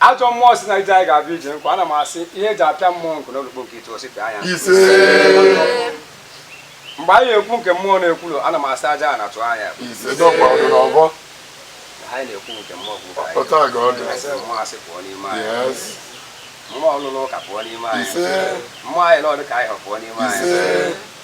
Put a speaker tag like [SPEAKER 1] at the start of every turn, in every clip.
[SPEAKER 1] Ajọ
[SPEAKER 2] mmụọ si na ije anyị ga-abịa ije nkwa ana m asị ihe eji apịa mmụọ nkụ n'olukpo nke itu osi pịa ya mgbe anyị ekwu nke mmụọ na-ekwulu ana m asị aja a na-atụ anya anyị na-ekwu nke mmụọ
[SPEAKER 1] bụ
[SPEAKER 2] mmụọ asị
[SPEAKER 1] pụọ n'ime
[SPEAKER 2] anyị
[SPEAKER 1] mmụọ
[SPEAKER 2] ọlụlụ ụka pụọ n'ime anyị mmụọ anyị
[SPEAKER 1] na ọdụ
[SPEAKER 2] ka anyị hụ pụọ n'ime anyị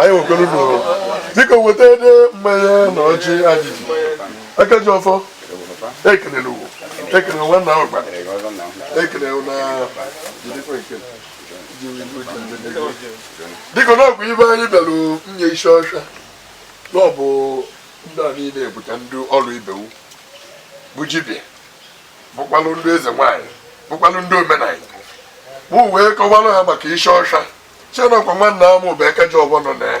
[SPEAKER 1] anyị nwekwara unu dịka weta ede mmanya na ọjị anyị ji aka ji ọfọ ekelere ugwu ekele nwanna ahụ gbara ekele na jidekwa ekele dịka na ọgwụ ibe anyị bịara nye isi ọcha na ọ bụ ndị a niile bụcha ndị ọrụ ibe m bụ jibia bụkwalụ ndị eze nwaanyị bụkwalụ ndị omenala bụ wee kọwara ha maka isi ọcha chenekwa nwanna m bụ aka ji ọfọ nọ na ya